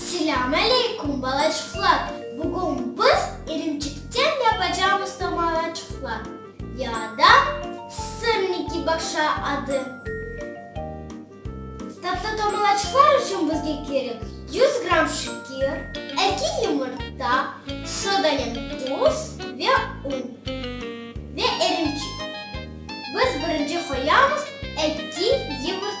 Selâm aleyküm balaçıqlar! Bugün biz irimçikten yapacamız tomalaçıqlar ya da sırniki başa adı. Tatlı tomalaçıqlar içün bizge kerek yüz gramm şekir, eki yumurta, sodanen tuz ve un ve irimçik. Biz birinci qoyamız eki yumurta.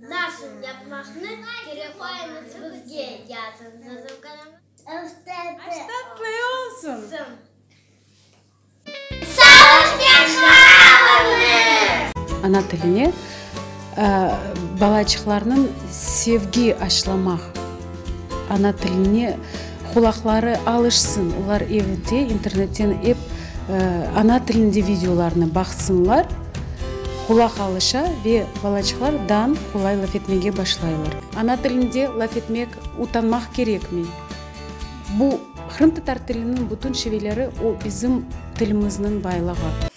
Nasıl yapmaqnı kerek olamız bizge, yazıñ. Ana tiline balaçıqlarnıñ sevgi aşılamaq, ana tiline. Qulaqları alışsın, olar evde internetten ep ana tilinde videolarnı baqsınlar, qulaq alışa ve balaçıqlar dan qolay laf etmege başlaylar. Ana tilinde laf etmek utanmaq kerekmi? Bu, qırımtatar tiliniñ bütün şiveleri, o bizim tilimizniñ baylığı.